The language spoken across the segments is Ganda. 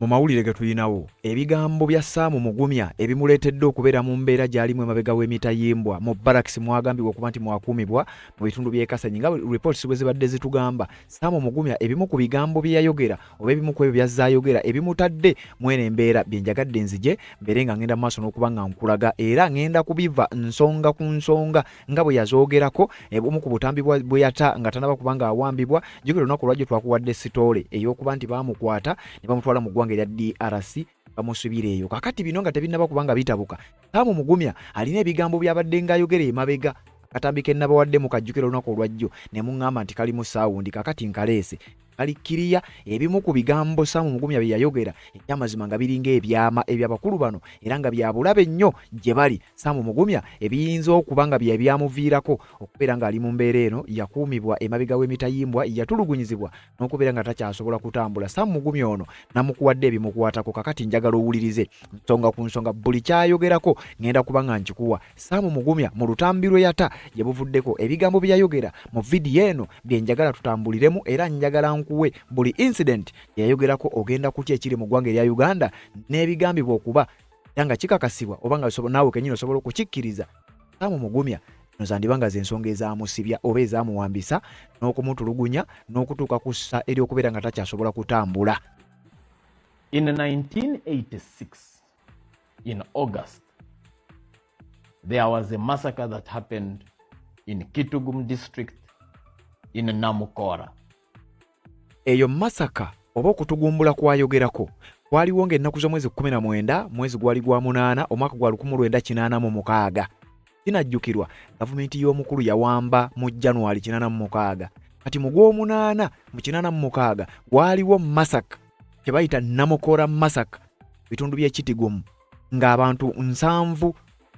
mu mawulire ge tulinawo ebigambo bya saamu mugumya ebimuleetedde okubeera mu mbeera gy'alimu emabega w'emitayimbwa mu baraks mwagambibwa okuba nti mwakuumibwa mu bitundu by'ekasanyi nga reports bwe zibadde zitugamba saamu mugumya ebimu ku bigambo bye yayogera oba ebimu ku ebyo byazze ayogera ebimutadde mwene embeera bye njagadde nzije mbeere nga ngenda mu maaso n'okuba nga nkulaga era ngenda kubiva nsonga ku nsonga nga bwe yazoogerako eh, omu ku butambi bwe yata nga tanaba kuba nga awambibwa jukira olunaku olwajjo twakuwadde sitoole ey'okuba nti baamukwata ne bamutwala mu ggwanga erya drc bamusubira eyo kakati bino nga tebinnaba kuba nga bitabuka kaamu mugumya alina ebigambo byabadde ng'ayogera emabega akatambi ke nnabawaddemu kajjukira olunaku olwajjo ne muŋŋamba nti kalimu saawundi kakati nkaleese Kalikkiriya ebimu ku bigambo Saamu Mugumya bye yayogera eby'amazima nga biringa ebyama eby'abakulu bano era nga bya bulabe nnyo gye bali Saamu Mugumya ebiyinza okuba nga bye byamuviirako okubeera ng'ali mu mbeera eno yakuumibwa emabega w'emitayimbwa yatulugunyizibwa n'okubeera nga takyasobola kutambula Saamu Mugumya ono namukuwadde ebimukwatako kakati njagala owulirize nsonga ku nsonga buli kyayogerako ngenda kuba nga nkikuwa Saamu Mugumya mu lutambi lwe yata gye buvuddeko ebigambo bye yayogera mu vidiyo eno bye njagala tutambuliremu era njagala nkuwe buli incident gye yayogerako ogenda kutya ekiri mu ggwanga erya Uganda n'ebigambibwa okuba era nga kikakasibwa oba nga naawe kenyini osobola okukikkiriza Saamu Mugumya no zandiba nga z'ensonga ezamusibya oba ezamuwambisa n'okumutulugunya n'okutuuka ku ssa ery'okubeera nga takyasobola kutambula In 1986 in August, there was a massacre that happened in Kitugum district in Namukora. Eyo masaka oba okutugumbula kwayogerako kwaliwo ng'ennaku z'omwezi 19 mwezi gwali gwa munaana omwaka gwa 1986 kinajjukirwa gavumenti y'omukulu yawamba mu january 86 kati mu gw'omunaana mu 86 waaliwo masaka kye bayita Namukora Massacre bitundu by'e Kitgum ng'abantu nsanvu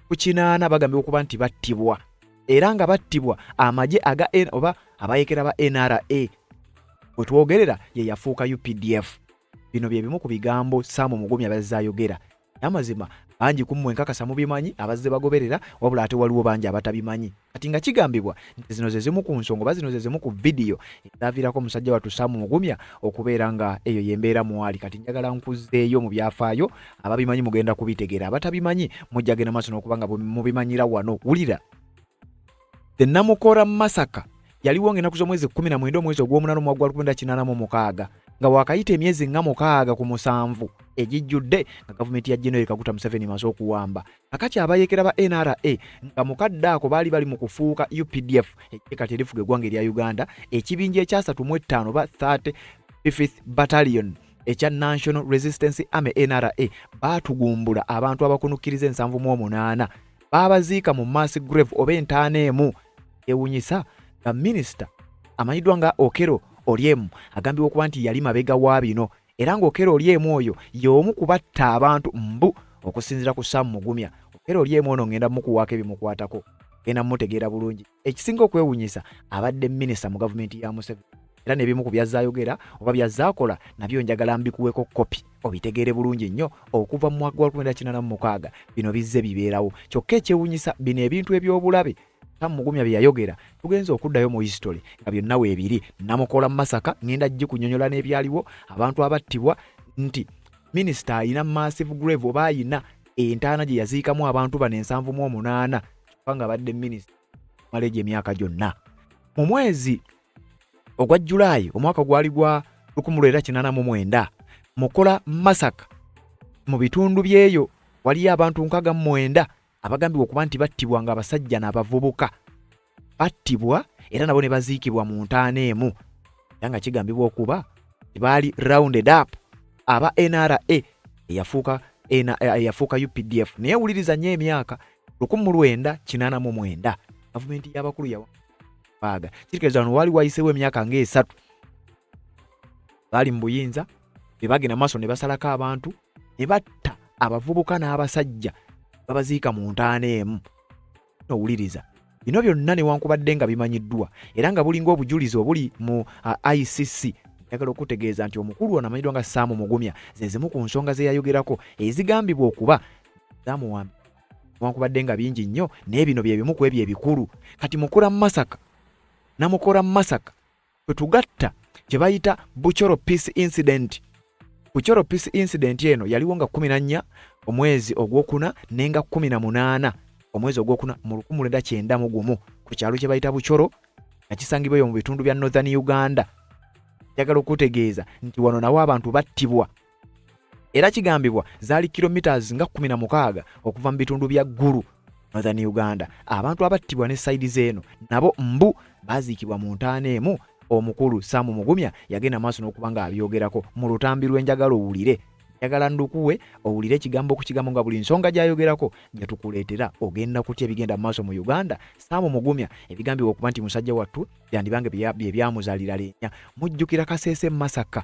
ku kinaana bagambibwa okuba nti battibwa era nga battibwa amagye aga oba abayekera ba NRA we twogerera ye yafuuka UPDF. Bino bye bimu ku bigambo Sam Mugumya byazze ayogera namazima bangi kummwe nkakasa mubimanyi abazze bagoberera wabula ate waliwo bangi abatabimanyi kati nga kigambibwa nti zino zezimu ku nsonga oba zino zezimu ku vidiyo ezaviirako omusajja wattu saamu mugumya okubeera nga eyo yembeera mwali kati njagala nkuzzeeyo mu byafaayo ababimanyi mugenda kubitegeera abatabimanyi mujjagenda maaso n'okuba nga mubimanyira wano wulira The Namukora Massacre yaliwo ng'ennaku z'omwezi kkumi na mwenda omwezi ogw'omunana omwaka gwa lukumi kinaana mu mukaaga nga waakayita emyezi nga mukaaga ku musanvu egijjudde nga gavumenti ya General Kaguta Museveni emaze okuwamba akati abayeekera ba NRA nga mukadde ako baali bali mu kufuuka UPDF eggye kati erifuga eggwanga erya Uganda ekibinja ekyasatu mu ettaano ba 30 Fifth Battalion ekya National Resistance Army NRA baatugumbula abantu abakunukkiriza ensanvu mu omunaana baabaziika mu mass grave oba entaana emu ewunyisa nga minisita amanyiddwa nga okero olyemu agambibwa okuba nti yali mabega wa bino era ng'okero olyemu oyo y'omu kubatta abantu mbu okusinzira ku sam mugumya okero olyemu ono ngenda mukuwaako ebimukwatako genda mutegeera bulungi ekisinga okwewunyisa abadde minisita mu gavumenti ya museveni era nebimu ku byazza ayogera oba byazza akola nabyo njagala mbikuweko kopi obitegeere bulungi nnyo okuva mu mwaka gwa 1996 bino bizze bibeerawo kyokka ekyewunyisa bino ebintu eby'obulabe tamugumya bye yayogera tugenza okuddayo mu history nga byonna weebiri namukola mu masaka ngenda gikunyonyola n'ebyaliwo abantu abattibwa nti minisita alina massive grave oba alina entaana gye yaziikamu abantu bano ensanvu mu omunaana kubanga abadde minisita mala egyo emyaka gyonna mu mwezi ogwa julaayi omwaka gwali gwa 1989 mukola masaka mu bitundu byeyo waliyo abantu nkaga mu mwenda abagambibwa okuba nti battibwa nga abasajja n'abavubuka battibwa era nabo ne baziikibwa mu ntaana emu era nga kigambibwa okuba baali rounded up aba nra eyafuuka eyafuuka updf naye wuliriza nnyo emyaka lukumi mu lwenda kinaana mu mwenda gavumenti y'abakulu yawaaga kitegeeza wano waali wayiseewo emyaka ng'esatu baali mu buyinza be bagenda maaso ne basalako abantu ne batta abavubuka n'abasajja babaziika mu ntaana emu nowuliriza Bino byonna newankubadde nga bimanyiddwa era nga bulinga obujulizi obuli mu uh, ICC yagala okutegeeza nti omukulu ono amanyiddwa nga Sam Mugumya ze zimu ku nsonga ze yayogerako ezigambibwa okuba zamuwamba newankubadde nga bingi nnyo naye bino bye bimu ku ebyo ebikulu kati mukula mu Masaka namukora mu Masaka kwe tugatta kye bayita Buchoro Peace Incident. Buchoro Peace Incident eno yaliwo nga kumi na nnya omwezi ogwokuna ne nga kumi na munaana omwezi ogwokuna mu lukumu lwenda kyenda mu gumu ku kyalo kye bayita Buchoro nga kisangibwa eyo mu bitundu bya Northern Uganda. Njagala okutegeeza nti wano nawo abantu battibwa era kigambibwa zaali kilometres nga 16 okuva mu bitundu bya Gulu Northern Uganda. Abantu abattibwa ne sayidi z'eno nabo mbu baaziikibwa mu ntaana emu omukulu Sam Mugumya yagenda maaso n'okuba ng'abyogerako mu lutambi lw'enjagala owulire njagala ndukuwe owulire ekigambo ku kigambo nga buli nsonga gyayogerako gye tukuleetera ogenda kutya ebigenda mu maaso mu uganda saamu mugumya ebigambibwa okuba nti musajja wattu byandibange bye byamuzalira leenya mujjukira kaseese masaka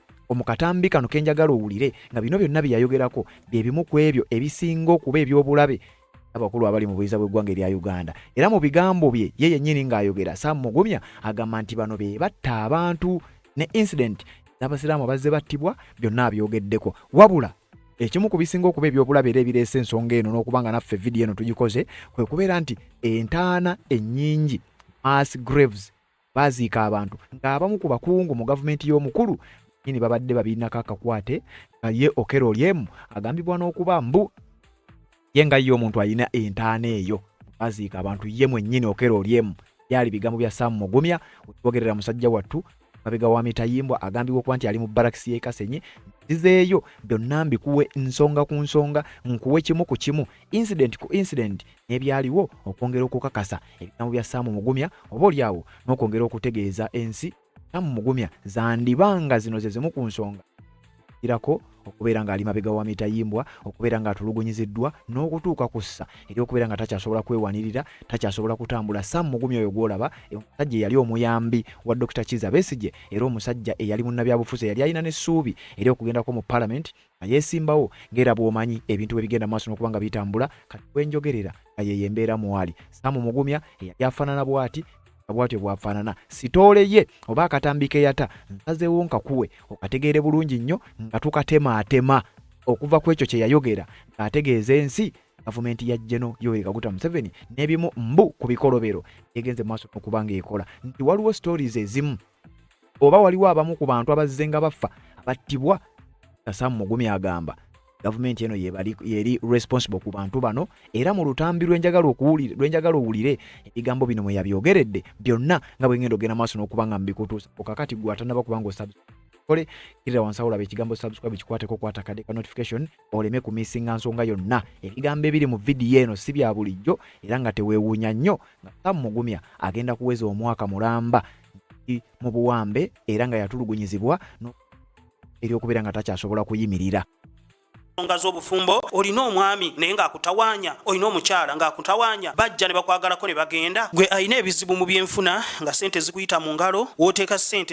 omukatambi kano kenjagala owulire nga bino byonna byeyayogerako byebimu ku ebyo ebisinga okuba ebyobulabe abakulu abali mu buyinza bw'eggwanga erya uganda era mu bigambo bye ye yennyini ng'ayogera sam mugumya agamba nti bano be batta abantu ne incident n'abasiraamu abazze battibwa byonna abyogeddeko wabula ekimu ku bisinga okuba ebyobulabe era ebireese ensonga eno n'okuba nga naffe vidiyo eno tugikoze kwe kubeera nti entaana ennyingi mass graves baaziika abantu ng'abamu ku bakungu mu gavumenti y'omukulu nyini babadde babirinako akakwate nga ye okero olyemu agambibwa n'okuba mbu ye nga ye omuntu alina entaana eyo baziika abantu ye mwennyini okero olyemu byali bigambo bya saamu mugumya wetwogerera musajja wattu mabega wa mitayimbwa agambibwa okuba nti ali mu barakisi y'ekasenyi zizeeyo byonna mbikuwe nsonga ku nsonga nkuwe kimu ku kimu incident ku incident n'ebyaliwo okwongera okukakasa ebigambo bya Ssaamu Mugumya oba olyawo n'okwongera okutegeeza ensi Ssaamu Mugumya zandiba nga zino ze zimu ku nsonga irako okubeera ng'ali mabega wa mitayimbwa okubeera ng'atulugunyiziddwa n'okutuuka ku ssa eri okubeera nga takyasobola kwewanirira takyasobola kutambula sam mugumi oyo gw'olaba omusajja eyali omuyambi wa dr kiza besigye era omusajja eyali munnabyabufuzi eyali alina n'essuubi eri okugendako mu palamenti yesimbawo ngera bwomanyi ebintu bwe bigenda maaso nokuba nga bitambula kati wenjogerera nga yeyo embeera mwali samu mugumya eyali afanana bwati bwatyo bwafaanana sitoole ye oba akatambi keyata nsazeewo nkakuwe okategeere bulungi nnyo nga tukatemaatema okuva ku ekyo kyeyayogera ng'ategeeza ensi gavumenti ya jeno yoweri kaguta museveni n'ebimu mbu ku bikolobero egenze maaso okuba ng'ekola nti waliwo stories ezimu oba waliwo abamu ku bantu abazze nga baffa abattibwa kasamu mugumi agamba gavumenti eno yeri responsible ku bantu bano era mu lutambi lwenjagala owulire ebigambo bino mweyabyogeredde byonna nga bwengenda ogenda maaso n'okuba nga mbikutuusa okakati gwatanaba kubanga osabkole kirira wansi awolaba ekigambo subscribe kikwateko kwata kade ka notification oleme kumisinga nsonga yonna ebigambo ebiri mu vidiyo eno si bya bulijjo era nga teweewuunya nnyo nga sam mugumya agenda kuweza omwaka mulamba mu buwambe era nga yatulugunyizibwa eryokubeera nga takyasobola kuyimirira ensonga z'obufumbo olina omwami naye ng'akutawaanya olina omukyala ng'akutawaanya bajja ne bakwagalako ne bagenda gwe alina ebizibu mu byenfuna nga sente zikuyita mu ngalo wooteeka sente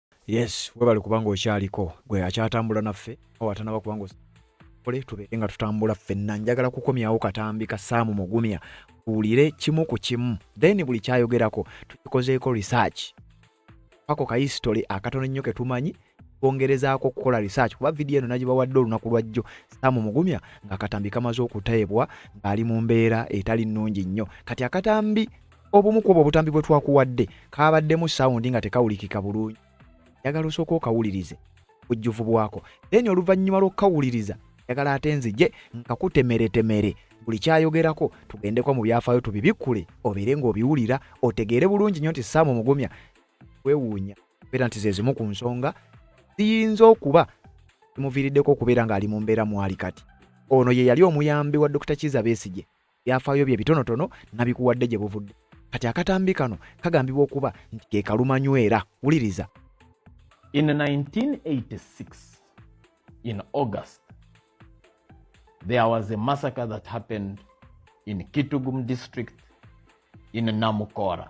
Yes, webale kubanga okyaliko gwe akyatambula naffe awo atanaba kubanga ole tubeere nga tutambula ffenna. Njagala kukomyawo katambi ka Saamu Mugumya tuwulire kimu ku kimu, then buli kyayogerako tukikozeeko research ako ka history akatono ennyo ke tumanyi twongerezaako okukola research kuba vidiyo eno nagibawadde olunaku lwa jjo Saamu Mugumya ng'akatambi kamaze okuteebwa ng'ali mu mbeera etali nnungi nnyo kati akatambi obumu kwobwo obutambi bwe twakuwadde kaabaddemu sawundi nga tekawulikika bulungi njagala osooka okawulirize bujjuvu bwako then oluvannyuma lw'okukawuliriza njagala ate nzije nkakutemeretemere buli kyayogerako tugendeko mu byafaayo tubibikkule obeere ng'obiwulira otegeere bulungi nnyo nti saamu omugumya kwewuunya beera nti zezimu ku nsonga ziyinza okuba zimuviiriddeko okubeera ng'ali mu mbeera mwali kati ono ye yali omuyambi wa dokita kiza besigye byafaayo bye bitonotono nabikuwadde gye buvudde kati akatambi kano kagambibwa okuba nti ke kalumanywera wuliriza in 1986 in august there was a massacre that happened in kitugum district in namukora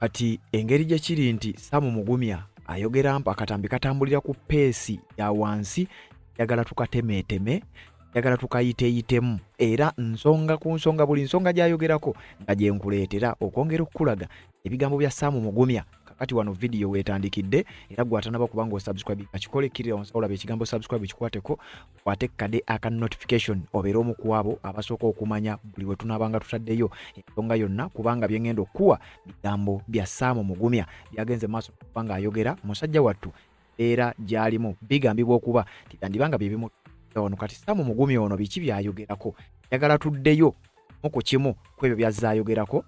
Kati engeri gye kiri nti Sam Mugumya ayogera mpa akatambi katambulira ku peesi ya wansi njagala tukatemeeteme njagala tukayiteyitemu era nsonga ku nsonga buli nsonga gy'ayogerako nga gye nkuleetera okwongera okukulaga ebigambo bya Sam Mugumya kakati wano vidiyo weetandikidde era gwatanaba kubanga osubscribe kakikole kirira wansi olaba ekigambo subscribe kikwateko kwate kade aka notification obeera omu ku abo abasooka okumanya buli we tunaabanga tutaddeyo ensonga yonna kubanga bye ngenda okukuwa bigambo bya saamu mugumya byagenze maaso okuba ng'ayogera musajja wattu era gy'alimu bigambibwa okuba tiyandiba nga bye bimu ono kati saamu mugumya ono biki byayogerako njagala tuddeyo mu ku kimu ku ebyo by'azze ayogerako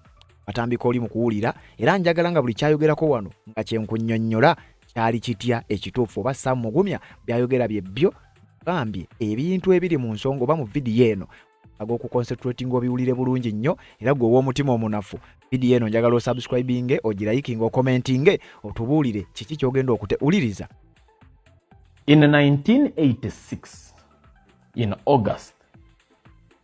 atambika oli mu kuwulira era njagala nga buli kyayogerako wano nga kyenkunyonnyola kyali kitya ekituufu oba sam mugumya byayogera bye byo gambye ebintu ebiri mu nsonga oba mu vidiyo eno ag'okukonsentratinga obiwulire bulungi nnyo era gwe ow'omutima omunafu vidiyo eno njagala osubscribinge ogirayikinga okomentinge otubuulire kiki kyogenda okuteuliriza in 1986 in august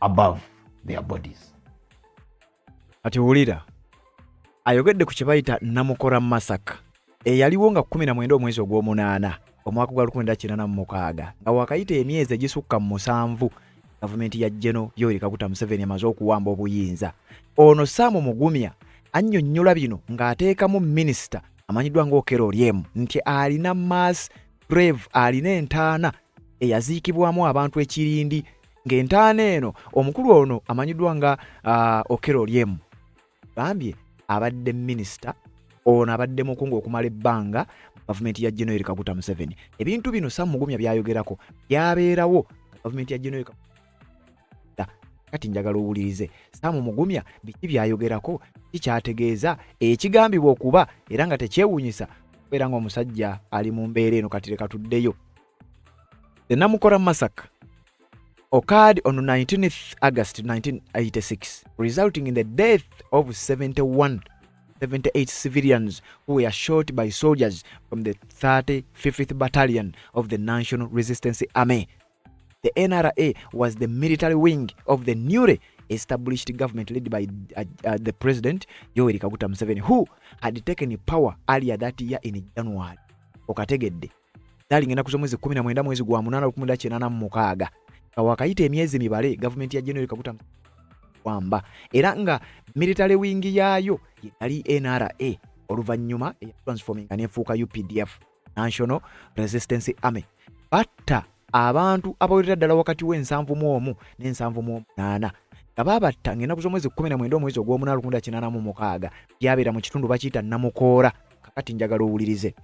above their bodies kati wulira ayogedde ku kye bayita namukora masaka eyaliwo nga 19 omwezi ogw'omunaana omwaka gwa 1986 nga wakayita emyezi egisukka mu musanvu gavumenti ya jeno yoeri kaguta museveni emaze okuwamba obuyinza ono saamu mugumya annyonnyola bino ng'ateekamu minisita amanyiddwa ng'okero olyemu nti alina mass Rev alina entaana eyaziikibwamu abantu ekirindi ng'entaana eno omukulu ono amanyiddwa nga uh, Okero Oryem gambye abadde minisita ono abadde mukungu okumala ebbanga mu gavumenti ya General Kaguta Museveni. Ebintu bino Sam Mugumya byayogerako byabeerawo gavumenti ya General kati njagala owulirize saamu mugumya biki byayogerako kikyategeeza ekigambibwa okuba era nga tekyewunyisa kubeera nga omusajja ali mu mbeera eno kati leka tuddeyo enamukora masaka occurred on 19th august 1986 resulting in the death of 71 78 civilians who were shot by soldiers from the 35th battalion of the national resistance army The NRA was the military wing of the newly established government led by uh, uh, the president Yoweri Kaguta Museveni who had taken power earlier that year in January. Okategedde dalinga ennaku z'omwezi 19 mwezi gwa munaana lukumi lwa kinaana mu mukaaga nga wakayita emyezi mibale gavumenti ya January Kaguta wamba era nga military wing yaayo yali NRA oluvannyuma eya transforming nefuuka UPDF. National Resistance Army batta abantu abawerera ddala wakati w'ensanvu mu omu n'ensanvu mu omunaana nga baabatta ng'ennaku z'omwezi kkumi na mwenda omwezi ogw'omunaana lukumi kinaana mu mukaaga byabeera mu kitundu bakiyita namukoora kakati njagala owulirize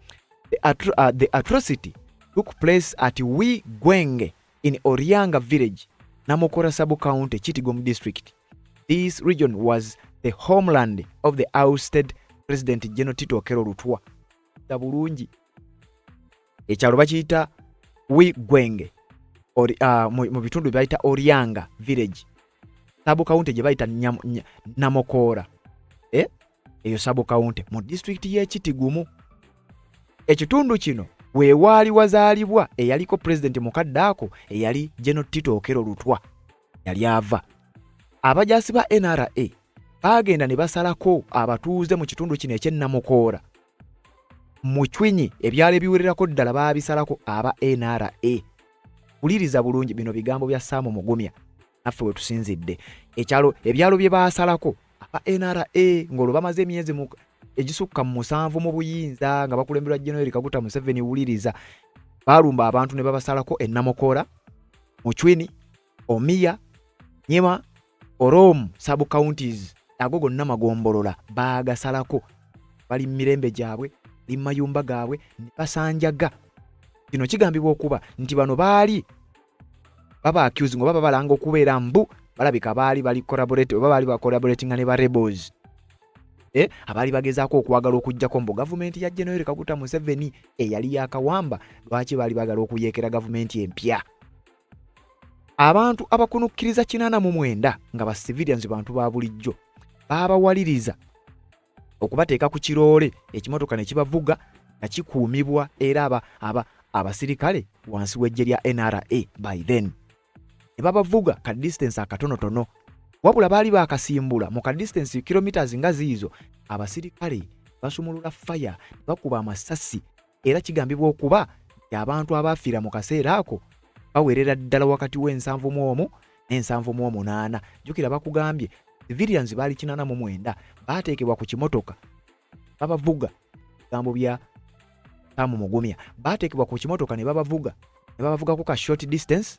the, atro uh, the atrocity took place at wi gwenge in orianga village namukoora subcounty kitigom district this region was the homeland of the ousted president general tito okero lutwa da bulungi ekyalo bakiyita wi gwenge or, uh, mu, mu bitundu byebayita orianga village sabu kawunti gye bayita namokoora eh? eyo sabu kawunti mu disitulikiti y'ekitigumu ekitundu kino wewaali wazaalibwa eyaliko pulezidenti mukadde ako eyali geno tito okero lutwa yali ava abajaasi ba nra baagenda ne basalako abatuuze mu kitundu kino ekyennamukoora mu cwinyi ebyalo ebiwererako ddala baabisalako aba nra wuliriza bulungi bino bigambo bya saamu mugumya naffe wetusinzidde ekyalo ebyalo bye baasalako aba nra ng'olwo bamaze emyezi egisukka mu musanvu mu buyinza nga bakulemberwa generali kaguta museveni wuliriza baalumba abantu ne babasalako ennamukola mucwini omiya nyema orom sub counties ago gonna magombolola baagasalako bali mu mirembe gyabwe ali mu mayumba gaabwe ne basanjaga kino kigambibwa okuba nti bano baali baba accusing oba babalanga okubeera mbu balabika baali bali collaborate oba baali bacollaboratinga ne ba rebels eh, abaali bagezaako okwagala okujjako mbu gavumenti ya general kaguta museveni eyali yakawamba lwaki baali bagala okuyeekera gavumenti empya abantu abakunukkiriza kinaana mu mwenda nga ba civilians bantu ba bulijjo baabawaliriza okubateeka ku kiroole ekimotoka ne kibavuga nga kikuumibwa era aba, aba abasirikale wansi w'eggye lya nra by then ne babavuga ka distance akatonotono wabula baali baakasimbula mu ka distance kilometres nga ziizo abasirikale basumulula faya bakuba amasasi era kigambibwa okuba nti abantu abaafiira mu kaseera ako bawerera ddala wakati w'ensanvu mu omu n'ensanvu mu omunaana jjukira bakugambye civilians baali kinana mu mwenda baateekebwa ku kimotoka babavuga ebigambo bya tamu mugumya baateekebwa ku kimotoka ne babavuga ne babavugako ka short distance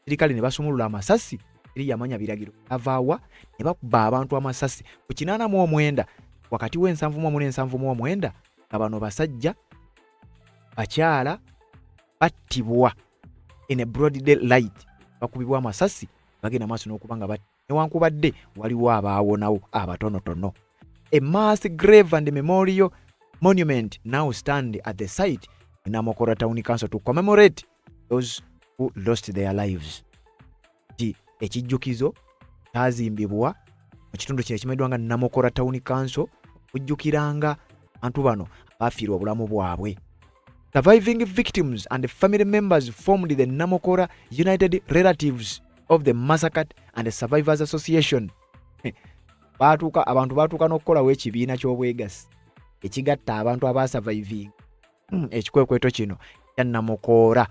sirikale ne basumulula amasasi eri yamanya biragiro avaawa ne bakuba abantu amasasi ku kinana mu omwenda wakati w'ensanvu mu omu n'ensanvu mu omwenda nga bano basajja bakyala battibwa in a broad day light bakubibwa amasasi bagenda maaso n'okuba nga batti newankubadde waliwo abaawonawo abatonotono a mass grave and memorial monument now stand at the site in Amokora Town Council to commemorate those who lost their lives ti ekijjukizo kyazimbibwa mu kitundu kino ekimanyiddwa nga namokora town council okujjukiranga abantu bano abaafiirwa obulamu bwabwe surviving victims and family members formed the namokora united relatives of the massacre and survivors association baatuuka abantu baatuuka n'okukolawo ekibiina ky'obwegassi ekigatta abantu abaasavaivinga Hmm, ekikwekweto kino kyannamukoora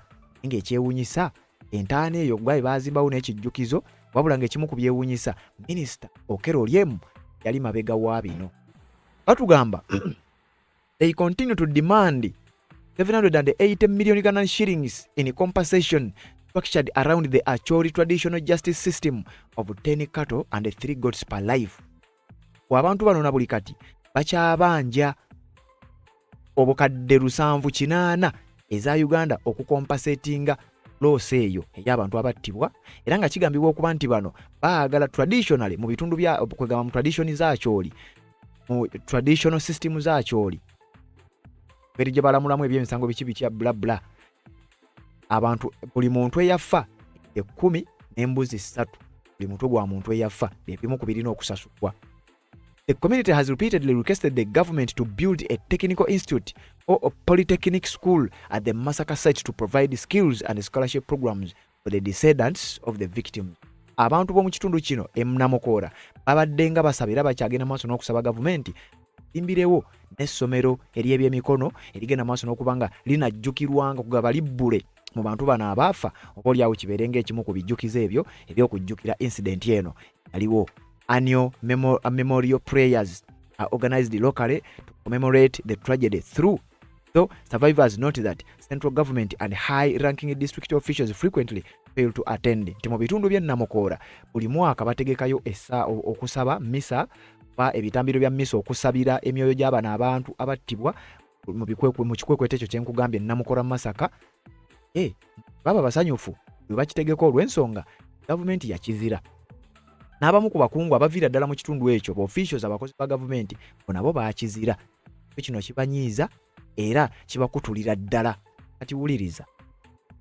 nga ekyewunyisa entaana eyo gwaye baazimbawo n'ekijjukizo wabula ng'ekimu ku byewunyisa minisita okero olyemu yali mabega wa bino batugamba they continue to demand 780 million Ghana shillings in compensation structured around the Acholi traditional justice system of 10 cattle and 3 goats per life abantu bano na buli kati bakyabanja obukadde lusanvu kinaana eza uganda okukompasetinga loosi eyo ey'abantu abattibwa era nga kigambibwa okuba nti bano baagala traditionally mu bitundu byakwegamba mu traditioni zakyoli mu traditional system zakyoli beri gye balamulamu ebyemisango biki bitya bla bla abantu buli muntu eyafa ekkumi n'embuzi ssatu buli mutwe gwa muntu eyafa byebimu ku birina okusasulwa The community has repeatedly requested the government to build a technical institute or a polytechnic school at the Masaka site to provide skills and scholarship programs the descendants of the victims abantu b'omu kitundu kino emunamukoora babadde nga basaba era bakyagenda maaso n'okusaba gavumenti imbirewo n'essomero ery'ebyemikono erigenda maaso n'okuba nga linajjukirwanga kugaba libbule mu bantu bano abaafa oba olyawo kibeere ngaekimu ku bijjukizo ebyo ebyokujjukira incidenti eno yaliwo annual memorial prayers are organized locally to commemorate the tragedy through Though survivors note that central government and high ranking district officials frequently fail to attend nti mu bitundu bye Namukoora buli mwaka bategekayo essa okusaba misa ba ebitambiro bya misa okusabira emyoyo gy'abana abantu abattibwa mu kikwekweto ekyo kyenkugambye Namukoora Masaka hey, eh, baba basanyufu bwe bakitegeka olw'ensonga gavumenti yakizira n'abamu ku bakungu abaviira ddala mu kitundu ekyo ba officials abakozi ba gavumenti bo nabo bakizira kino kibanyiiza era kibakutulira ddala kati wuliriza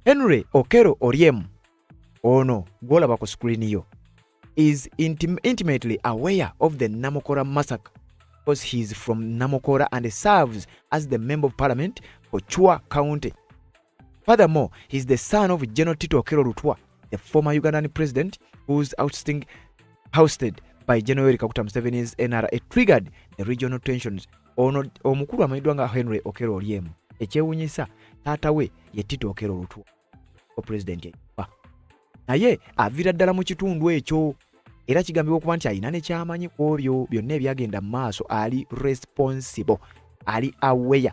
henry okero oryem ono gwolaba ku screen yo is intim intimately aware of the namukora massacre because he is from namukora and serves as the member of parliament for chua county Furthermore, he is the son of General Tito Okello Lutwa, the former Ugandan president whose ousting housted by General Yoweri Kaguta Museveni's NRA triggered the regional tensions. Ono omukulu amanyiddwa nga Henry Okello Oryem. Ekyewunyisa taata we ye Tito Okello Lutwa, o president eyafa. Naye aviira ddala mu kitundu ekyo era kigambibwa okuba nti alina ne kyamanyi ku obyo byonna ebyagenda mu maaso ali responsible ali aware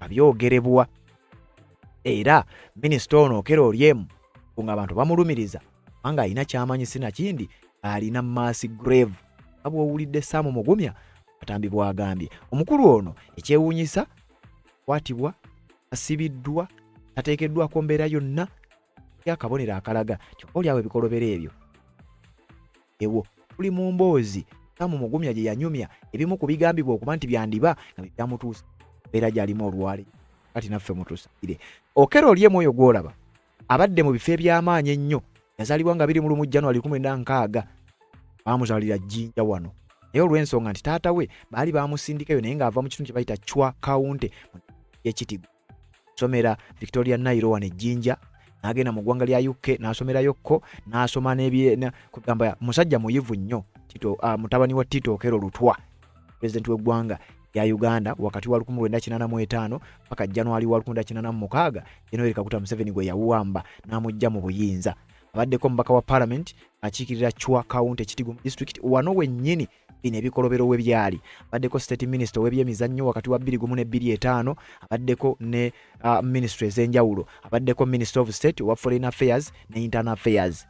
abyogerebwa era minisita ono okera olyemu nga abantu bamulumiriza kubanga alina kyamanyi sinakindi alina maasi grave nga bwowulidde saamu mugumya atambi bwagambye omukulu ono ekyewunyisa kwatibwa asibiddwa tateekeddwako mbeera yonna yakabonero akalaga kyokka olyawo ebikolobero ebyo ewo tuli mu mboozi Sam Mugumya gye yanyumya ebimu ku bigambibwa okuba nti byandiba nga bye byamutuusa mbeera gy'alimu olwali kati naffe mutusire okera oli emu oyo gw'olaba abadde mu bifo eby'amaanyi ennyo yazaalibwa nga biri mu lumu january 16 baamuzaalira jjinja wano naye olw'ensonga nti taata we baali baamusindikayo naye ng'ava mu kitundu kye bayita chwa kawunte mu ekitigo somera Victoria Nairo wano ejjinja n'agenda mu ggwanga lya UK n'asomerayo kko n'asoma kugamba musajja muyivu nnyo Tito uh, mutabani wa Tito Okero Lutwa pulezidenti w'eggwanga ya Uganda wakati wa 1985 paka January wa 1986 Yoweri Kaguta Museveni gwe yawamba n'amujja mu buyinza abaddeko omubaka wa parliament akiikirira Chwa County Kitgum district wano wennyini bino ebikolobero we byali abaddeko state minister ow'ebyemizannyo wakati wa 21 ne 25 abaddeko ne uh, ministry ez'enjawulo abaddeko minister of state owa foreign affairs ne internal affairs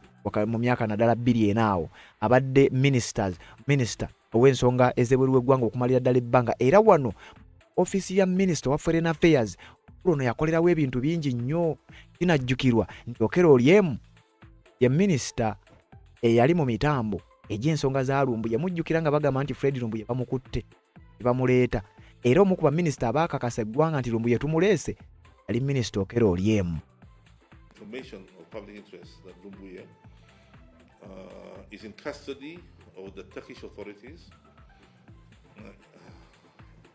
mu myaka naddala bbiri enaawo abadde ministers minister ow'ensonga ez'ebweru w'eggwanga okumalira ddala ebbanga era wano ofiisi ya minister owa foreign affairs ono yakolerawo ebintu bingi nnyo kinajjukirwa nti okera oli emu ye minisita eyali mu mitambo egy'ensonga za lumbuye mujjukira nga bagamba nti fred lumbuye bamukutte bamuleeta era omu ku baminisita abaakakasa eggwanga nti lumbuye tumuleese yali minisita okera olyemu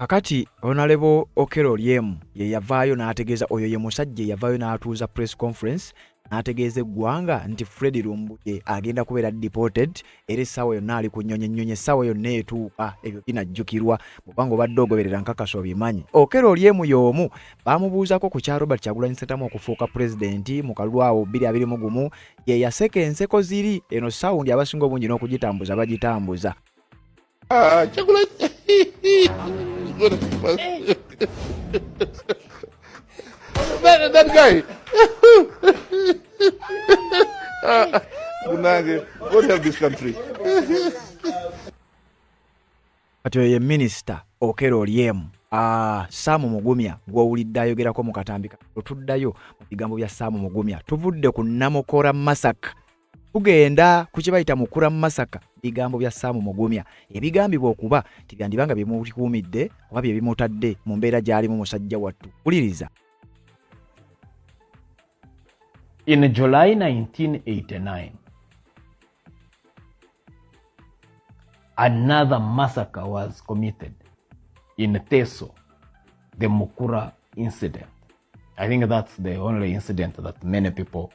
Kakati Honorable Okello Oryem ye yavaayo n'ategeeza oyo ye musajja eyavaayo n'atuuza press conference n'ategeeza eggwanga nti Fred Lumbuye agenda kubeera deported era essaawa yonna ali ku nnyonyi ennyonyi essaawa yonna etuuka ebyo binajjukirwa bwobanga obadde ogoberera nkakasa obimanyi Okello Oryem y'omu baamubuuzako ku kya Robert Kyagulanyi Ssentamu okufuuka pulezidenti mu kalulu awo bbiri abiri mu gumu ye yaseka enseko ziri eno saawundi abasinga obungi n'okugitambuza bagitambuza Ah, chocolate. Good. that, that guy. uh, Bunage, God help this country. kati oyo ye minisita okera olyemu ah, saamu mugumya gwowulidde ayogerako mu katambi otuddayo mu bigambo bya saamu mugumya tuvudde ku namukora masaka tugenda ku kye bayita mukura mu masaka bigambo bya saamu mugumya ebigambibwa okuba tibyandiba nga bimulikuumidde oba bye bimutadde mu mbeera gy'alimu musajja wattu wuliriza in july 1989 another massacre was committed in teso the mukura incident i think that's the only incident that many people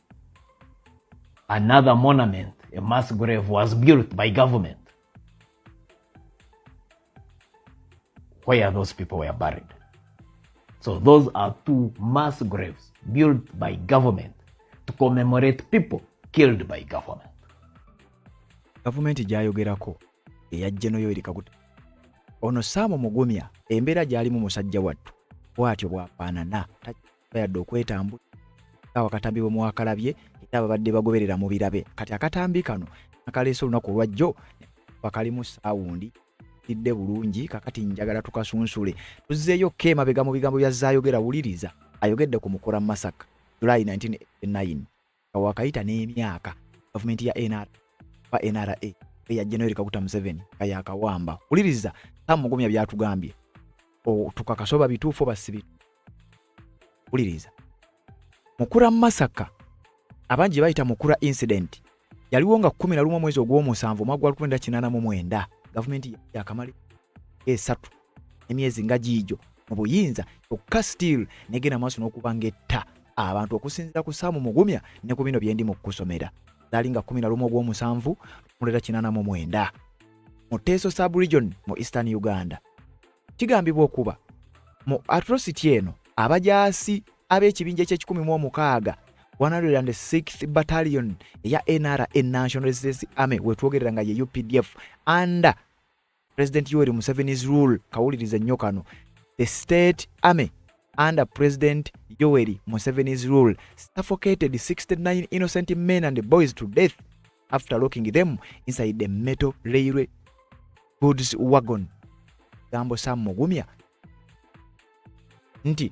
another monument, a mass grave was built by government where those people were buried. So those are two mass graves built by government to commemorate people killed by government. Gavumenti gyayogerako eya Gen. Yoweri Kaguta ono Sam Mugumya embeera gy'alimu musajja wattu bw'atyo bw'afaanana takiraba. bayadde okwetambula nga wakatambi bwe mwakalabye era ababadde bagoberera mu birabe kati akatambi kano nakaleese olunaku olwajjo bakalimu saawundi tidde bulungi kakati njagala tukasunsule tuzzeeyo ko emabega mu bigambo bya zaayogera wuliriza ayogedde ku mukora masaka july 1989 nga wakayita n'emyaka gavumenti ya nra ba nra eya general kaguta museveni nga yakawamba wuliriza tamugumya byatugambye tukakase oba bituufu oba si bituufu wuliriza mukura masaka abangi bayita mukura incident yaliwo nga kumi na lumu omwezi ogw'omusanvu omwaka gwa lukumi nda kinaana mu mwenda gavumenti yakamali esatu emyezi nga giijo mu buyinza kyokka still negenda maaso n'okuba ng'etta abantu okusinzira ku saamu mugumya ne ku bino byendi mu kukusomera zaali nga 11 ogw'omusanvu mulera 89 mu teeso subregion mu eastern uganda kigambibwa okuba mu atrocity eno abajaasi ab'ekibinja eky'ekikumi mu omukaaga 106th battalion eya nra national resistance army wetwogerera nga ye updf under President Yoweri Museveni's rule kawuliriza nnyo kano the state army under President Yoweri Museveni's rule suffocated 69 innocent men and boys to death after locking them inside the metal railway goods wagon gambo Sam Mugumya nti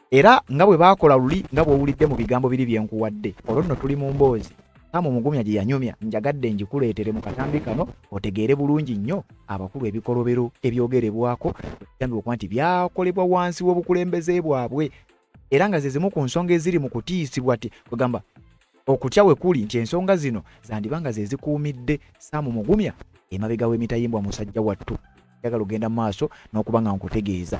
era nga bwe baakola luli nga bw'owulidde mu bigambo biri bye nkuwadde olwo nno tuli mu mboozi kama omugumya gye yanyumya njagadde ngikuleetere mu katambi kano otegeere bulungi nnyo abakulu ebikolobero ebyogerebwako ekitambi okuba nti byakolebwa wansi w'obukulembeze bwabwe era nga ze zimu ku nsonga eziri mu kutiisibwa ti kwegamba okutya we kuli nti ensonga zino zandiba nga ze zikuumidde saamu mugumya emabega w'emitayimbwa musajja wattu njagala ogenda mu maaso n'okuba nga nkutegeeza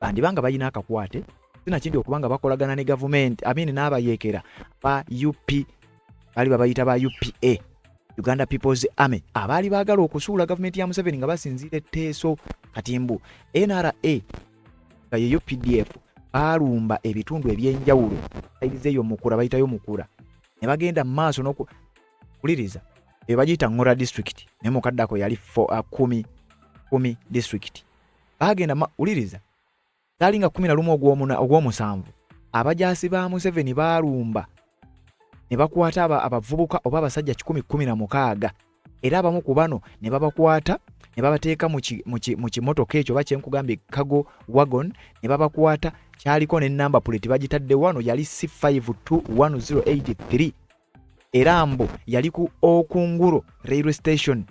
bandiba nga balina akakwate sinakindi okuba nga bakolagana ne gavumenti amini n'abayeekera ba up bali babayita ba upa uganda peoples army abaali baagala okusuula gavumenti ya museveni nga basinziira etteeso kati mbu nra nga yeyo pdf baalumba ebitundu ebyenjawulo sayizi eyo mukura bayitayo mukura ne bagenda mu maaso n'okuwuliriza eyo bagiyita ngora district naye mukaddako yali uh, kumi kumi district baagenda wuliriza gaali nga kumi na lumu ogw'omusanvu abajaasi ba museveni baalumba ne bakwata abavubuka oba abasajja kikumi kumi na mukaaga era abamu ku bano ne babakwata ne babateeka mu kimotoka ekyo oba kyenkugambye kago wagon ne babakwata kyaliko ne namba puleti bagitadde wano yali c 5 2 1083 era mbu yali ku okunguro railway station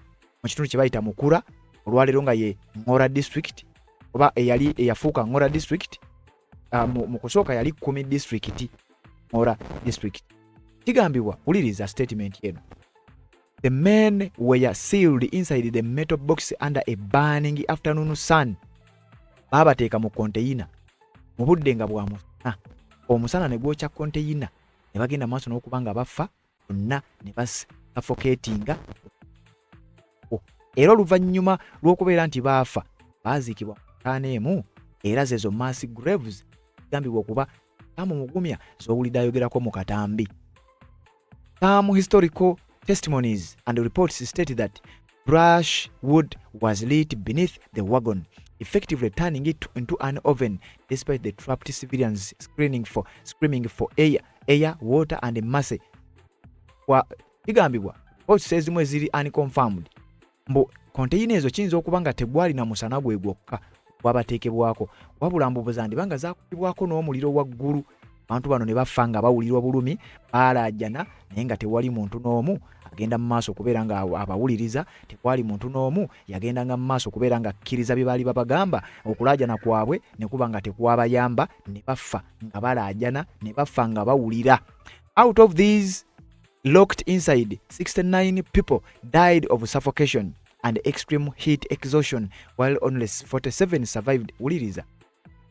mu kitundu kye bayita mukura olwaleero nga ye ngora district oba eyali eyafuuka ngora district uh, mu kusooka yali kumi district ngora district kigambibwa wuliriza statement eno the men were sealed inside the metal box under a burning afternoon sun baabateeka mu konteyina mu budde nga bwa musana omusana ne gwokya konteyina ne bagenda mu maaso n'okuba nga bafa bonna ne basafokeetinga era oluvannyuma lw'okubeera nti baafa baaziikibwa mu ntaana emu era zezo mass graves zigambibwa okuba kaamu mugumya z'owulidde ayogerako mu katambi kaamu historical testimonies and reports state that brush wood was lit beneath the wagon effectively turning it into an oven despite the trapped civilians screening for, screaming for air, air water and mercy kigambibwa votes ezimu eziri unconfirmed mbu konteyina ezo kiyinza okuba nga tegwalina musana gwe gwokka bwabateekebwako wabula mbubuza ndiba nga zakubibwako n'omuliro waggulu abantu bano ne bafa nga bawulira obulumi baalaajana naye nga tewali muntu n'omu agenda mu maaso okubeera nga abawuliriza tekwali muntu n'omu yagendanga mu maaso okubeera nga akkiriza bye baali babagamba okulaajana kwabwe ne kuba nga tekwabayamba ne bafa nga balaajana ne bafa nga bawulira out of these locked inside 69 people died of suffocation and extreme heat exhaustion while only 47 survived wuliriza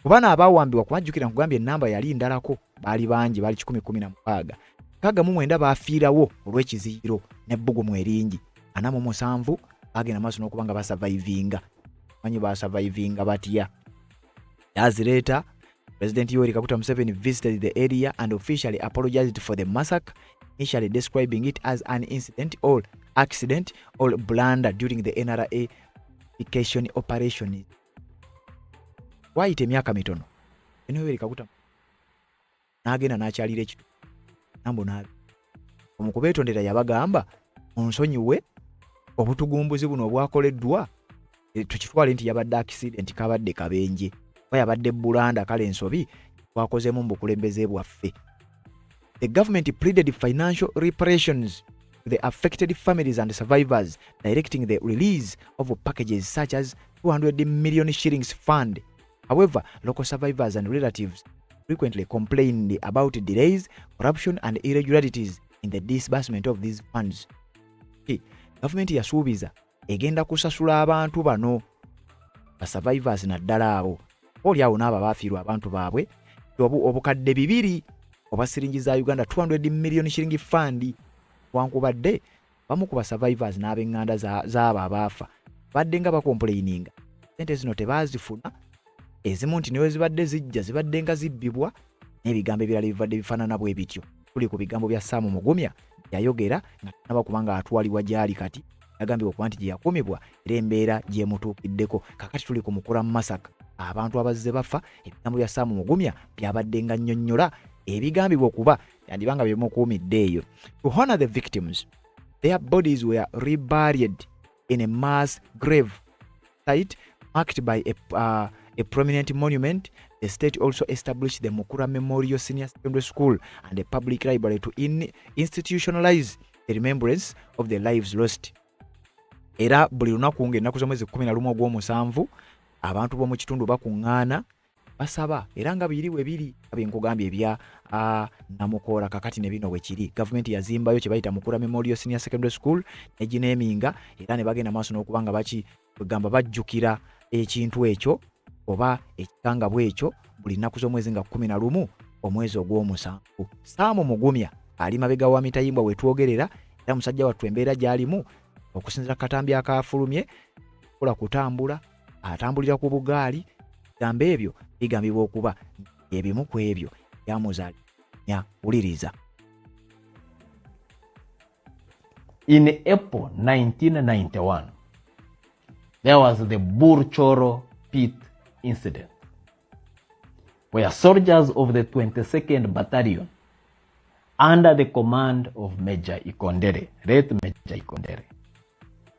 ku bano abaawambibwa kubajjukira nkugambye ennamba yali ndalako baali bangi baali 116 kaga mu mwenda baafiirawo olw'ekiziyiro n'ebbugumu eringi ana mu musanvu baagenda maaso n'okuba nga basavaivinga manyi basavaivinga batya yazireeta President Yoweri Kaguta Museveni visited the area and officially apologized for the massacre, initially describing it as an incident or accident or blunder during the NRA vacation operation. Waayita emyaka mitono eno Yoweri Kaguta n'agenda n'akyalira ekitu nambo n'abi omu kubeetondera yabagamba onsonyiwe obutugumbuzi buno obwakoleddwa e, tukitwale nti yabadde accident kabadde kabenje oba yabadde bulanda kale ensobi twakozemu mu bukulembeze bwaffe the government pleaded financial reparations to the affected families and survivors directing the release of packages such as 200 million shillings fund however local survivors and relatives frequently complained about delays corruption and irregularities in the disbursement of these funds gavumenti yasuubiza egenda kusasula abantu bano ba survivors naddala abo oli awo n'abo abaafiirwa abantu baabwe obu obukadde bibiri obwa siringi za uganda 200 million shiringi fund wankubadde bamu ku basurvivors n'abenganda z'abo abaafa badde nga bakompuleyininga sente zino tebaazifuna ezimu nti newe zibadde zijja zibadde nga zibbibwa n'ebigambo ebirala ebibadde bifaanana bwe bityo tuli ku bigambo bya saamu mugumya yayogera nga tanaba kubanga atwalibwa gy'ali kati yagambibwa okuba nti gye yakumibwa era embeera gyemutuukiddeko kakati tuli ku mukula mu masaka abantu abazze bafa ebigambo bya saamu mugumya byabadde nga nnyonnyola ebigambibwa okuba yandiba nga byemukuumidde eyo to honor the victims their bodies were reburied in a mass grave site marked by a, uh, a prominent monument. The state also established the Mukura Memorial Senior Secondary School and a public library to in institutionalize the remembrance of the lives lost. Era buli lunaku ng'ennaku z'omwezi 11 ogw'omusanvu abantu b'omu kitundu bakuŋŋaana basaba era nga biri we biri abe nkugambye ebya namukoora kakati ne bino wekiri gavumenti yazimbayo kye bayita mukura memorial senior secondary school negineminga era ne bagenda maaso n'okuba nga baki kwegamba bajjukira ekintu ekyo oba ekikangabwa ekyo buli nnaku z'omwezi nga kumi na lumu omwezi ogw'omusanvu saamu mugumya ali mabega wa mitayimbwa wetwogerera era musajja wattu embeera gy'alimu okusinzira katambi akaafulumye kola kutambula atambulira ku bugaali bigambo ebyo bigambibwa okuba ebimu ku ebyo byamuzalinya wuliriza in april 1991 there was the burchoro pit incident where soldiers of the 22nd battalion under the command of major ikondere late major ikondere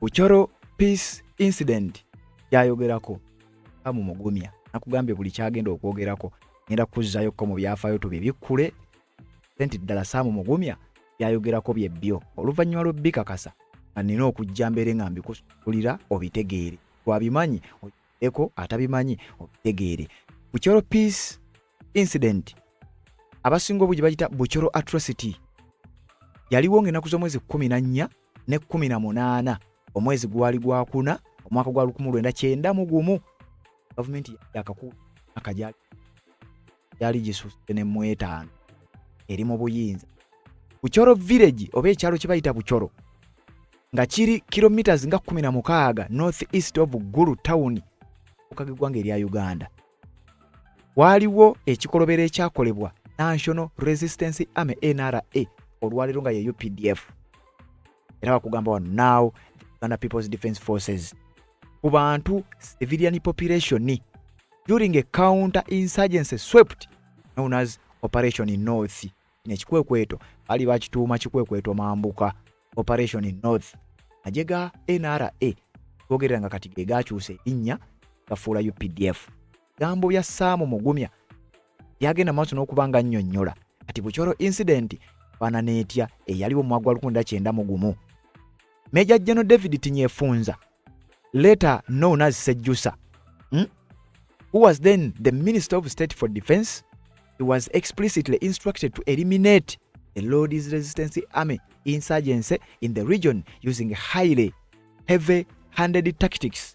ku Coro Peace Incident kyayogerako kamu mugumya nakugambye buli kyagenda okwogerako ngenda kuzzayo ko mu byafaayo tubibikkule senti ddala saamu mugumya byayogerako bye byo oluvannyuma lw'obbikakasa nga nina okujja mbeere nga mbikusulira obitegeere twabimanyi eko atabimanyi obitegeere bucoro peace incident abasinga obungi bagita bucoro atrocity yaliwo ng'enaku z'omwezi kumi na nnya ne kumi na munaana omwezi gwali gwakuna omwaka gwa lukumu lwenda kyenda mu gumu gavumenti yakakuula akajali gyali gisusse ne mu etaano eri mu buyinza bucoro village oba ekyalo kye bayita bucoro nga kiri kilometres nga 16 north east of gulu town okuka geggwanga erya uganda waaliwo ekikolobero ekyakolebwa national resistance army nra olwaleero nga ye updf era bakugamba wano now the uganda peoples defense forces ku bantu civilian population during a counter insurgency swept known as operation in north kino ekikwekweto bali bakituuma kikwekweto mambuka operation in north aje ga nra gogerera nga kati gegakyusa erinnya gafuula updf gambo bya saamu mugumya byagenda maaso n'okuba nga nnyonnyola kati bukyoro incident fana n'etya eyaliwo mu mwaka gwa 19 mu gumu meja jeno david tinyefunza later known as Sejusa, hmm? who was then the Minister of State for Defense, he was explicitly instructed to eliminate the Lord's Resistance Army insurgency in the region using highly heavy handed tactics.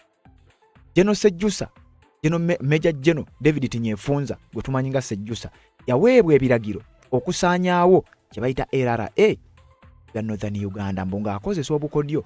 General Sejusa, General Major General David Tinyefunza, gwe tumanyi nga Sejusa, yaweebwa ebiragiro okusaanyaawo kye bayita LRA ya Northern Uganda mbu ng'akozesa obukodyo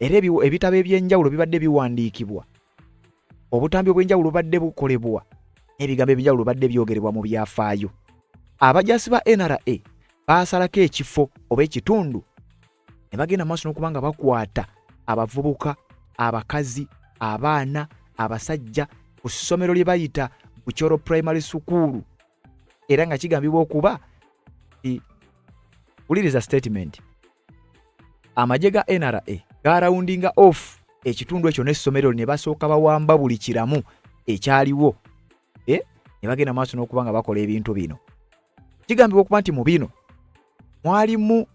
era ebitabo eby'enjawulo bibadde biwandiikibwa obutambi obw'enjawulo bubadde bukolebwa n'ebigambo eby'enjawulo bibadde byogerebwa mu byafaayo abajaasi ba nra baasalako ekifo oba ekitundu ne bagenda mu maaso n'okuba nga bakwata abavubuka abakazi abaana abasajja ku ssomero lye bayita bucoro primary sukuulu era nga kigambibwa okuba wuliriza statement amagye ga nra garawundinga off ekitundu ekyo n'essomero ne basooka bawamba buli kiramu ekyaliwo eh? ne bagenda maaso n'okuba nga bakola ebintu bino kigambibwa okuba nti mu bino mwalimu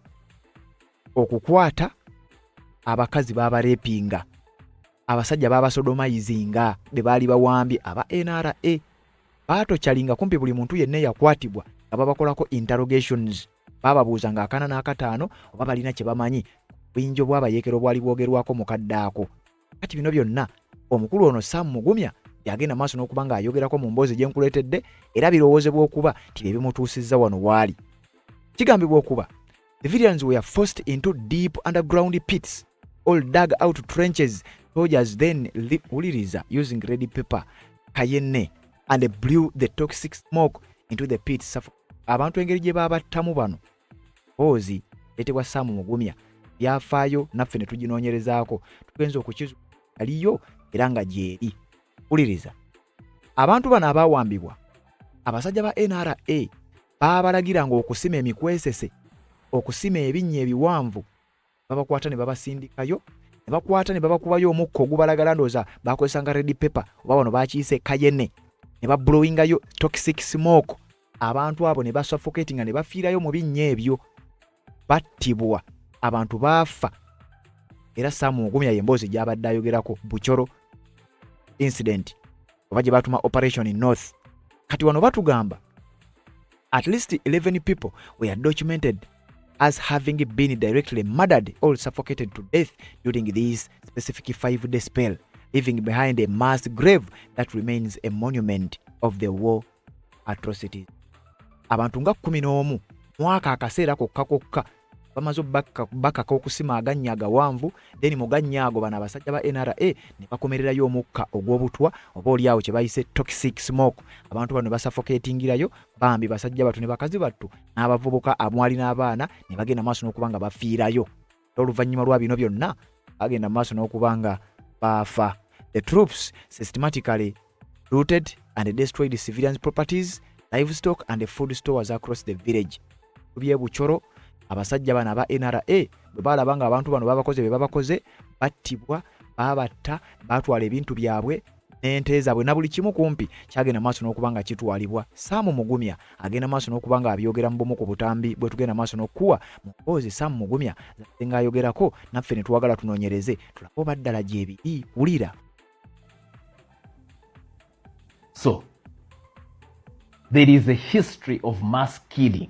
okukwata abakazi b'abarepinga abasajja babasodomayizinga be baali bawambye aba nra baatokyalinga kumpi buli muntu yenna eyakwatibwa nga babakolako interrogations baababuuza nga akana n'akataano oba balina kye bamanyi buyinja obwabayeekera obwali bwogerwako mu kadde ako kati bino byonna omukulu ono sam mugumya yagenda maaso n'okuba ng'ayogerako mu mboozi gye nkuleetedde era birowoozebwa okuba nti bye bimutuusizza wano waali kigambibwa okuba The Vidians were forced into deep underground pits all dug out trenches soldiers then wuliriza using ready paper kayenne and blew the toxic smoke into the pit abantu engeri gye baabattamu bano boozi etebwa saamu mugumya byafaayo naffe ne tuginoonyerezaako tugenza okukizu aliyo era nga gyeri wuliriza abantu bano abaawambibwa abasajja ba nra baabalagiranga okusima emikwesese okusima ebinnya ebiwanvu babakwata ne babasindikayo ne bakwata ne babakubayo omukka ogubalagala ndooza bakozesanga redi pepa oba bano bakiyise kayene ne bablowingayo toxic smoke abantu abo ne basuffocatinga ne bafiirayo mu binnya ebyo battibwa abantu baafa era saamu ogumya ye emboozi gyabadde ayogerako bucoro incident oba gye batuma operation in north kati wano batugamba at least 11 people were documented as having been directly murdered or suffocated to death during this specific five day spell leaving behind a mass grave that remains a monument of the war atrocities abantu nga kumi n'omu mwaka akaseera kokka kokka bamaze bakaka okusima agannya agawanvu then mu gannya ago bano abasajja ba nra ne bakomererayo omukka ogw'obutwa oba oliawo kye bayise toxic smoke abantu bano basafoketingirayo bambi basajja battu ne bakazi battu n'abavubuka amwali n'abaana ne bagenda maaso n'okuba nga bafiirayo n'oluvannyuma lwa bino byonna bagenda maaso n'okuba nga baafa the troops systematically looted and destroyed civilians properties livestock and food stores across the village byebucoro abasajja bano aba nra bwe baalaba nga abantu bano babakoze bye babakoze battibwa babatta baatwala ebintu byabwe n'ente zaabwe na buli kimu kumpi kyagenda maaso n'okuba nga kitwalibwa saamu mugumya agenda maaso n'okuba nga abyogera mu bumu ku butambi bwe tugenda maaso n'okukuwa mu mboozi saamu mugumya zazze ng'ayogerako naffe ne twagala tunoonyereze tulabe oba ddala gyebiri wulira so there is a history of mass killing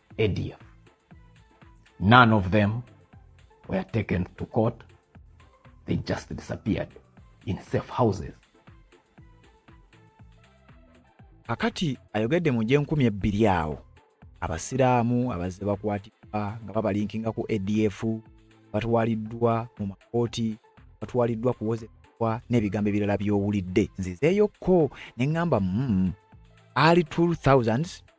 edia none of them were taken to court they just disappeared in safe houses kakati ayogedde mu gyenkumi ebbiri awo abasiraamu abazze bakwatibwa nga babalinkinga ku adf batwaliddwa mu makooti batwaliddwa kuwozebwa n'ebigambo ebirala by'owulidde nzizeeyokko ne ŋŋamba mm, ali 2000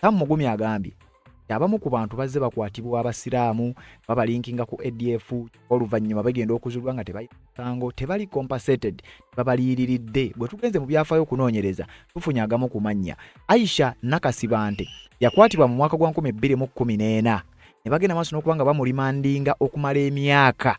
Sam Mugumi agambye abamu ku bantu bazze bakwatibwa abasiraamu babalinkinga ku adf oluvannyuma bagenda okuzulwa nga tebasango tebali compensated babaliiriridde bwe tugenze mu byafaayo okunoonyereza tufunye agamu ku mannya aisha nakasibante yakwatibwa mu mwaka gwa 214 ne bagenda maaso n'okuba nga bamulimandinga okumala emyaka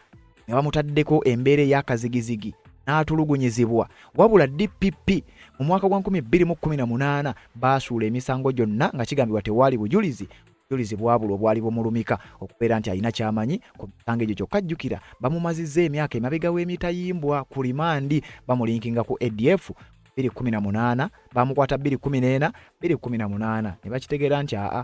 nga bamutaddeko embeera ey'akazigizigi n'atulugunyizibwa wabula dpp mu mwaka gwa 2018 baasuula emisango gyonna nga kigambibwa tewaali bujulizi bujulizi bwabula obwali bumulumika okubeera nti alina kyamanyi ku misango egyo kyokka jjukira bamumazizza emyaka emabega w'emitayimbwa ku limandi bamulinkinga ku adf 218 bamukwata 214 218 ne bakitegeera nti aa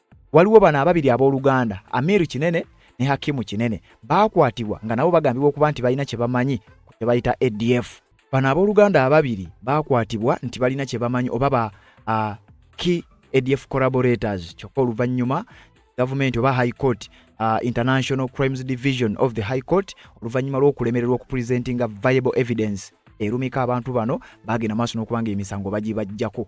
Waliwo bano ababiri abooluganda Amir Kinene ne Hakimu Kinene baakwatibwa nga nabo bagambibwa okuba nti balina kye bamanyi ku kye bayita ADF. Bano abooluganda ababiri baakwatibwa nti balina kye bamanyi oba ba uh, key ADF collaborators kyokka oluvannyuma gavumenti oba high court uh, international crimes division of the high court oluvannyuma lw'okulemererwa okupresentinga viable evidence erumika abantu bano bagenda maaso n'okubanga emisango bagibajjako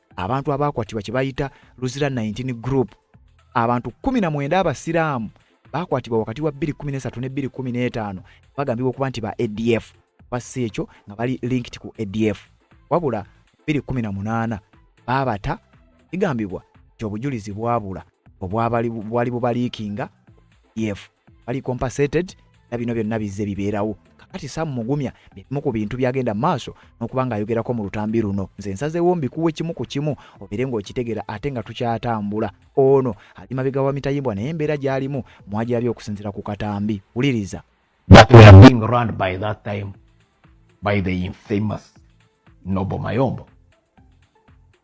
abantu abaakwatibwa kye bayita luzira 19 group abantu 19 abasiraamu baakwatibwa wakati wa 213 ne 215 bagambibwa okuba nti ba adf basi ekyo nga bali linked ku adf wabula 218 baabata kigambibwa nti obujulizi bwabula obwali bubaliikinga ef bali compensated na bino byonna bizze bibeerawo kakati sam mugumya bimu ku bintu byagenda maaso n'okuba ng'ayogerako mu lutambi luno nze nsazeewo mbikuwa ekimu ku kimu obeere ng'okitegera ate nga tukyatambula ono ali mabega wa mitayimbwa naye embeera gy'alimu mwagirabye okusinzira ku katambi wuliriza that we are being run by that time by the infamous Nobo Mayombo.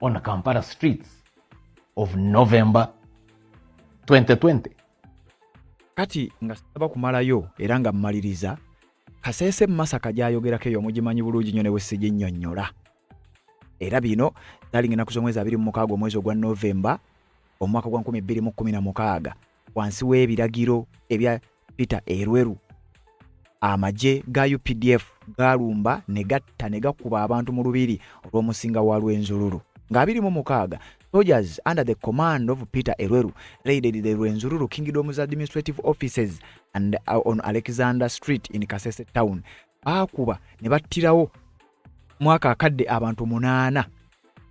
on Kampala streets of November 2020. Kati nga saba kumalayo era nga mmaliriza Kasese Masaka gyayogerako eyo mugimanyi bulungi nnyo ne bwe siginnyonnyola era bino dalinga ennaku z'omwezi abiri mu mukaaga omwezi ogwa November omwaka gwa nkumi bbiri mu kkumi na mukaaga wansi w'ebiragiro ebya Peter Erweru amagye ga UPDF gaalumba ne gatta ne gakuba abantu mu lubiri olw'omusinga wa Lwenzululu nga abiri mu mukaaga soldiers under the command of Peter Erweru raided the Rwenzururu Kingdom's administrative offices and uh, on Alexander Street in Kasese town baakuba ne battirawo mwaka akadde abantu munaana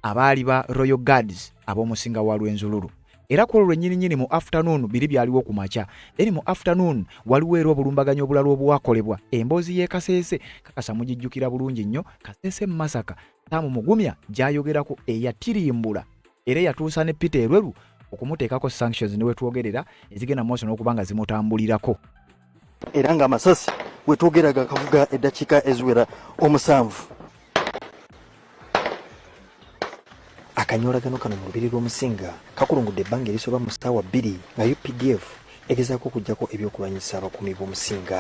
abaali ba royal guards ab'omusinga wa lwenzululu era ku olwo lwennyininyini mu afternoon biri byaliwo ku makya then mu afternoon waliwo era obulumbaganyi obulala obwakolebwa emboozi y'e kaseese kakasa mugijjukira bulungi nnyo kaseese mu masaka taamu mugumya gyayogerako eyatirimbula era eyatuusa ne peter erweru okumuteekako sanctions ne wetwogerera ezigenda mu maaso n'okuba nga zimutambulirako era nga amasasi wetwogera gakavuga eddakiika eziwera omusanvu akanyoolagano kano mu lubiri lw'omusinga kakulungudde ebbanga erisoba mu ssaawa bbiri nga updf egezaako okuggyako ebyokulwanyisa abakuumi b'omusinga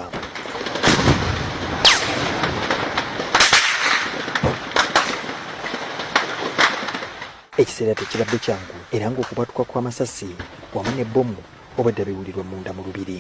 ekiseera tekibadde kyangu era ng'okubwatuka kw'amasasi wamu ne bbomu obwedda biwulirwa munda mu lubiri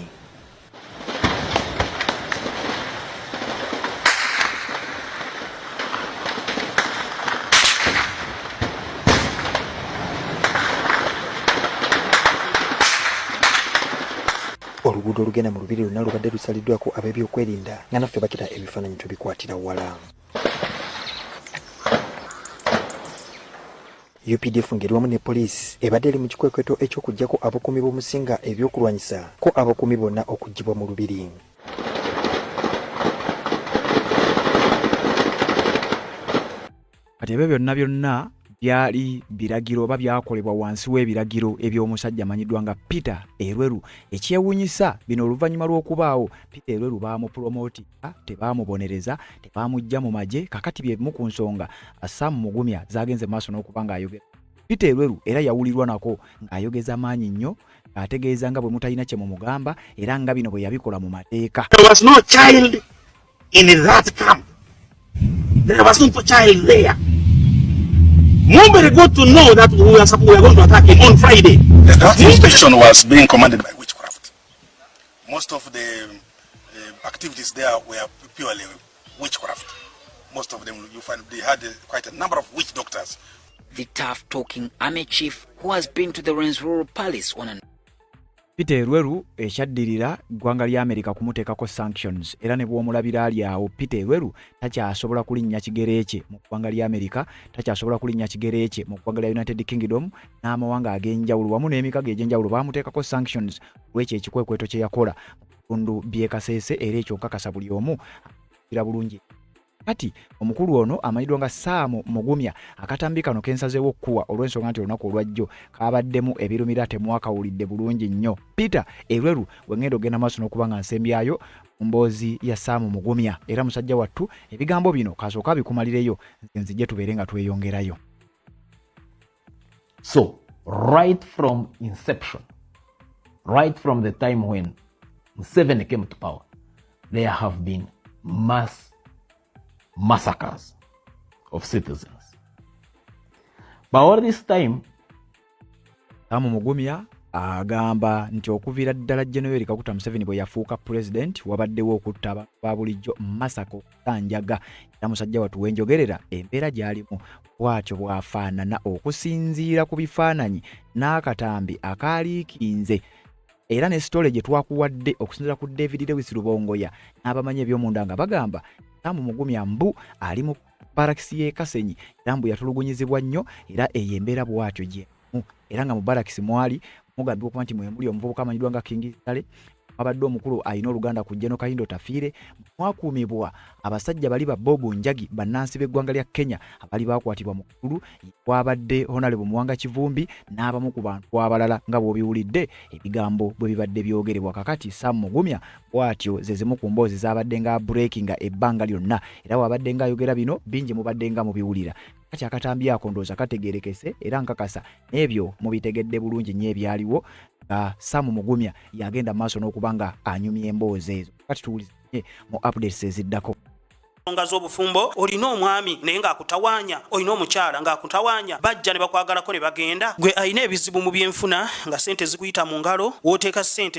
oluguudo olugenda mu lubiri lwonna lubadde lusaliddwako ab'ebyokwerinda nga naffe bakira ebifaananyi tubikwatira wala UPDF ngeri wamu ne poliisi ebadde eri mu kikwekweto eky'okuggyako abakuumi b'omusinga eby'okulwanyisa ko abakuumi bonna okuggyibwa mu lubiri. kati ebyo byonna byonna byali biragiro oba byakolebwa wansi w'ebiragiro eby'omusajja amanyiddwa nga peter erweru ekyewunyisa bino oluvannyuma lw'okubaawo peter erweru baamupulomooti tebaamubonereza tebaamujja mu magye kakati byebimu ku nsonga sam mugumya zagenze maaso n'okuba ng'ayogera peter elweru era yawulirwa nako ng'ayogeza maanyi nnyo ng'ategeeza nga bwe mutalina kye mumugamba era nga bino bwe yabikola mu mateeka Mumbere got to know that we are, we are going to attack him on Friday. That inspection was being commanded by most of the uh, activities there were purely witchcraft. Most of them, you find they had uh, quite a number of witch doctors. The tough talking army chief who has been to the Ren's rural palace on an Peter Elweru ekyaddirira ggwanga lya Amerika kumuteekako sanctions era ne bw'omulabira ali awo Peter Elweru takyasobola kulinnya kigere kye mu ggwanga lya Amerika, takyasobola kulinnya kigere kye mu ggwanga lya United Kingdom n'amawanga ag'enjawulo wamu n'emikago egy'enjawulo baamuteekako sanctions lw'ekyo ekikwekweto kye yakola bitundu by'e Kasese era ekyo nkakasa buli omu akira bulungi kati omukulu ono amanyiddwa nga saamu mugumya akatambi kano kensazeewo okukuwa olw'ensonga nti olunaku olwajjo kaabaddemu ebirumira temwakawulidde bulungi nnyo peter erweru bwe ngenda okugenda maaso n'okuba nga nsembyayo mu mboozi ya saamu mugumya era musajja wattu ebigambo bino kaasooka abikumalireyo nze nzije tubeere nga tweyongerayo So right from inception, right from the time when Museveni came to power, there have been mass massacres of citizens. But all this time, Amu Mugumya agamba nti okuviira ddala General Kaguta Museveni bwe yafuuka president wabaddewo okutta ba bulijjo masako Kanjaga era musajja watu wenjogerera embeera gy'alimu bwatyo bw'afaanana okusinziira ku bifaananyi n'akatambi akaaliikinze era ne sitole gye twakuwadde okusinzira ku David Lewis Lubongoya n'abamanyi eby'omunda nga bagamba Sam Mugumya mbu ali mu barakisi y'e Kasenyi era mbu yatulugunyizibwa nnyo era eyo embeera bwatyo gye era nga mu barakisi mwali mugambibwa okuba nti mwemuli omuvubuka amanyiddwa nga King Sale abadde omukulu alina oluganda ku Jeno Kayindo Tafiire mwakuumibwa abasajja bali ba Bob Njagi bannansi b'eggwanga lya Kenya abali baakwatibwa mu kululu kwabadde Honalebo Muwanga Kivumbi n'abamu ku bantu abalala nga bw'obiwulidde ebigambo bwe bibadde byogerebwa kakati Sam Mugumya bw'atyo ze zimu ku mboozi zaabadde nga breakinga ebbanga lyonna era waabadde nga ayogera bino bingi mubadde nga mubiwulira kati akatambi ako ndooza kategerekese era nkakasa n'ebyo mubitegedde bulungi nnyo ebyaliwo nga samu mugumya yagenda maaso n'okuba nga anyumya emboozi ezo kati tuwulizanye mu updates eziddako ensonga z'obufumbo olina omwami naye ng'akutawanya olina omukyala ng'akutawanya bajja ne bakwagalako ne bagenda gwe alina ebizibu mu byenfuna nga sente zikuyita mu ngalo wooteeka sente